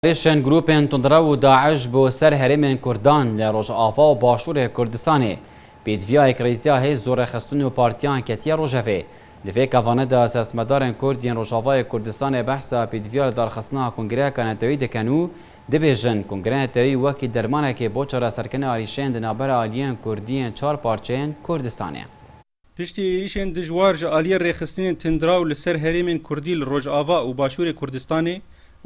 Hêrişên grûpên tundrew û DAIŞ bo ser herêmên Kurdan li Rojava û Başûrê Kurdistanê, pêdiviyayek rêziya hêz zorrêxistin û partiyan ketiye rojevê. Di vê kevane de siyasetmedarên Kurd yên Rojavayê Kurdistanê behsa pêdiviya lidarxistina kongreyeka neteweyî dikin û dibêjin, Kongreya Neteweyî wekî dermanekê bo çareserkirina êrîşên di navbera aliyên Kurdî yên çar parçeyên Kurdistanê. Piştî êrîşên dijwar ji aliyê rêxistinên tundiraw li ser herêmên kurdî li rojava û başûrê Kurdistanê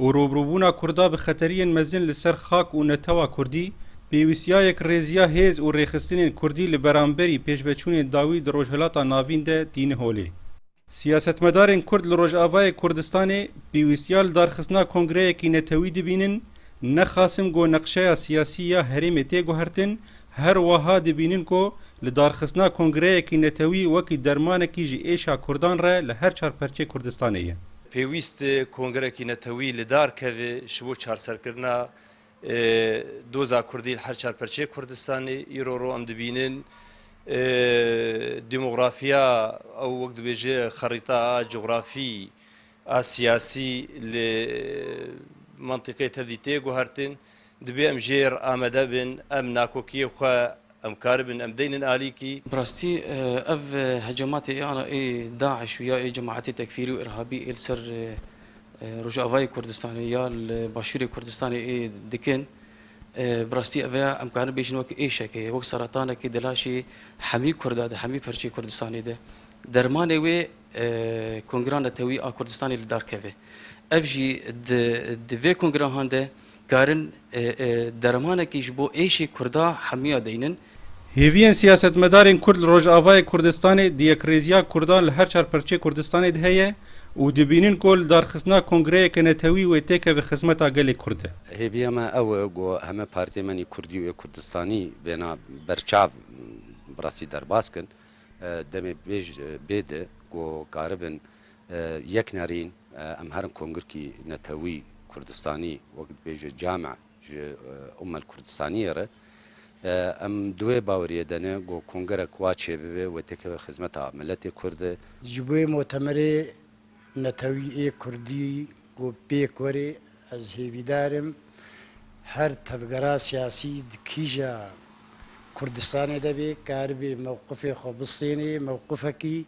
û rûbrûbûna kurda bi xeteriyên mezin li ser xak û netewa kurdî, pêwîstiya yekrêziya hêz û rêxistinên kurdî li beramberî pêşveçûnên dawî di Rojhilata Navîn de tîni holê. Siyasetmedarên Kurd li Rojavayê Kurdistanê pêwîstiya li darxistina kongreyekî netewî dibînin, ne Qasim ku neqşeya siyasî ya herêmê tê guhertin, her wiha dibînin ku li darxistina kongreyekî netewî wekî dermanekî ji êşa Kurdan re li her çar perçê Kurdistanê ye. Pêwîst e kongrekî netewî li dar keve ji bo çarserkirina Doza Kurdî li her çar perçeyê Kurdistanê îro rû em dibînin. Demografîya ew wek dibêje xerîta a cografî a siyasî li mentiqê tevdî tê guhertin. Dibê em jêr amede bin, em nakokiyê xwe Em karibin em deynin alî kî. Bi rastî ev hecamatê ê ana ê DAIŞ û ya ê cemaetê tekfîrî û îrhabî ê li ser Rojavayê Kurdistanê ya li Başûrê Kurdistanê ê dikin bi rastî ev ê em karin bêjin wek êşekê wek seretanekê di laşê hemî Kurda de hemî perçeyê Kurdistanê de dermanê wê kongra netewî a Kurdistanê li dar keve. Ev jî di vê kongrahan de. Karin dermanekî ji bo êşê Kurda hemiya deynin. Hêviyên siyasetmedarên Kurd li Rojavayê Kurdistanê di yekrêziya Kurdan li her çar pirçê Kurdistanê de heye û dibînin ku li darxistina kongreyeke netewî wê têkeve xizmeta gelê Kurd de. Hêviya me ew e ku heme partiyên me nî Kurdî û yê Kurdistanî bêna ber çav bi rastî derbas kin. Demê bê di ku karibin Yek nerîn em herin Kongirkî Netewî Kurdistanî wek dibêje came ji Ummel Kurdistaniyê re. Em di wê baweriyê de ne ku kongerek wa çêbibe wê têkeve xizmeta miletê Kurd e. Ji bo wê motemerê netewî ê Kurdî ku pêk were ez hêvîdar im her tevgera siyasî di kîja Kurdistanê de bê karibe mewqifê xwe bistêne, mewqifekî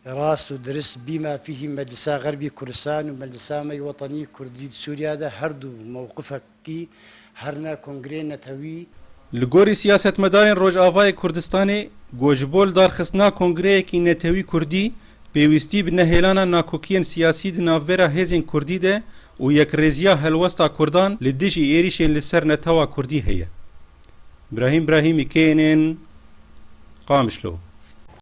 Rast û dirist bî ma fîhî Meclisa Xerbî Kurdistan û Meclisa me yê Wetanî Kurdî di Sûriya de her du mewqifekî her ne kongreyên netewî, Li gorî siyasetmedarên Rojavayê Kurdistanê ku ji bo lidarxistina kongreyekî netewî Kurdî pêwîstî bi nehêlana nakokiyên siyasî di navbera hêzên Kurdî de û yekrêziya helwesta Kurdan li dijî êrîşên li ser netewa Kurdî heye Brahîm Brahîmî, knn, Qamişlo.